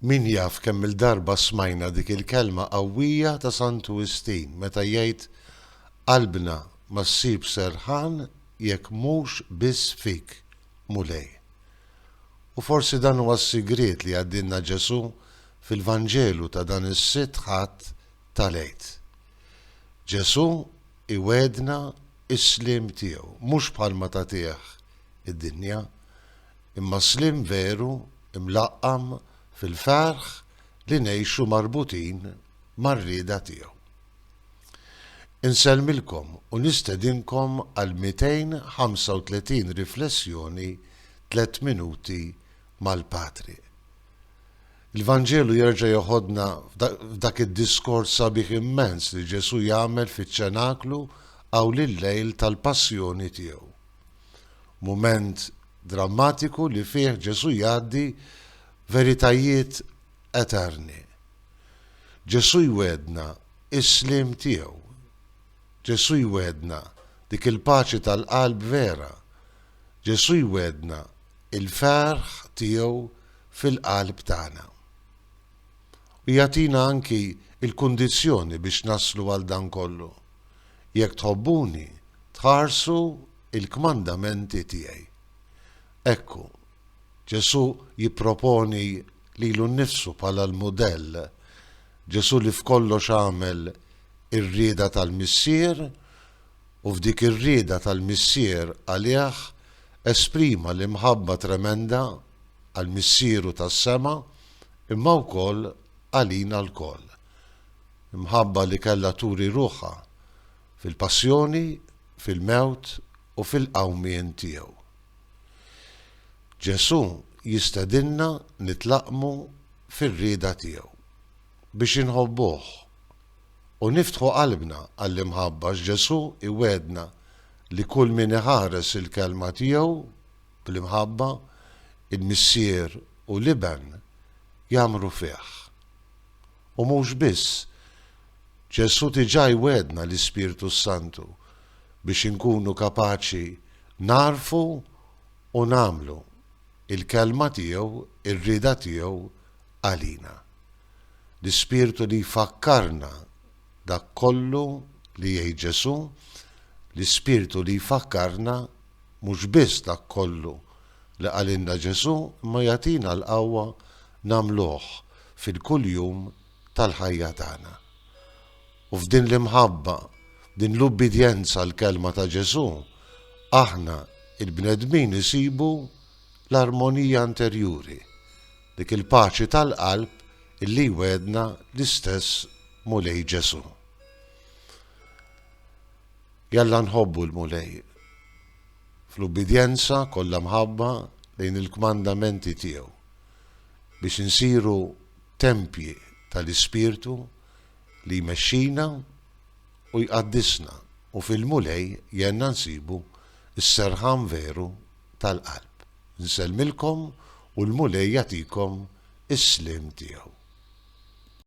Min jaf kemm-il darba smajna dik il-kelma qawwija ta' Santu Wistin meta jgħid, Qalbna ma ssib serħan jekk mhux biss fik, Mulej. U forsi dan huwa s-sigriet li jgħaddilna Ġesù fil-Vanġelu ta' dan is-Sitt Ħadd tal-Għid. Ġesù Iwegħedna s-sliem tiegħu, mhux bħalma tagħtih id-dinja, imma sliem veru mlaqqam fil-ferħ li ngħixu marbutin mar-rieda tiegħu. Insellmilkom u nistedinkom għall-235 riflessjoni Tliet Minuti mal-Patri. Il-Vanġelu jerġa' jeħodna f'dak id-diskors sabiħ immens li Ġesù jagħmel fiċ-Ċenaklu hawn il-lejl tal-Passjoni tiegħu. Mument drammatiku li fih Ġesù jgħaddi veritajiet eterni. Ġesù jwegħdna s-sliem tiegħu. Ġesù jwegħdna dik il-paċi tal-qalb vera Ġesù jwegħdna l-ferħ tiegħu fil-qalb tagħna. U jagħtina anki l-kundizzjoni biex naslu għal dan kollu, Jekk tħobbuni, tħarsu l-kmandamenti tiegħi. Ekku, Ġesù jipproponi lilu nnifsu bħala l-mudell, Ġesù li f'kollox għamel ir-rieda tal-Missier, u f'dik ir-rieda tal-Missier għalih esprima l-imħabba tremenda għal Missieru tas-sema imma wkoll għalina lkoll. Imħabba li kellha turi ruħha fil-passjoni, fil-mewt u fil-qawmien tiegħu. Ġesù jistedinna nitlaqqmu fir-rieda tiegħu biex inħobbuh. u niftħu qalbna għall-imħabba għax Ġesù iwegħedna li kull min iħares il-Kelma tiegħu bl-imħabba, il-Missier u l-Iben jgħammru fih. U mhux biss, Ġesù diġà jwegħedna l-Ispirtu s-Santu biex inkunu kapaċi nagħrfu u nagħmlu l-Kelma tiegħu, ir-rieda tiegħu għalina. l-ispirtu li jfakkarna dak kollu li jgħid Ġesù, l-ispirtu li jfakkarna mhux biss dak kollu li qalilna Ġesù imma jagħtina l-qawwa nagħmluh fil-kuljum tal-ħajja tagħna. U f'din l-imħabba, f'din l-ubbidjenza għall-kelma ta' Ġesù, aħna il-bnedmin isibu l-armonija interjuri. dik il-paċi tal-qalb illi jwegħedna l-istess Mulej Ġesù. Jalla nħobbu l-Mulej fl-ubbidjenza kollha mħabba lejn il-kmandamenti tiegħu biex insiru tempji tal-Ispirtu li jmexxina u jqaddisna u fil-Mulej jenna nsibu s-serħan veru tal-qalb. Nsellmilkom u l-Mulej jagħtikom is-sliem tiegħu.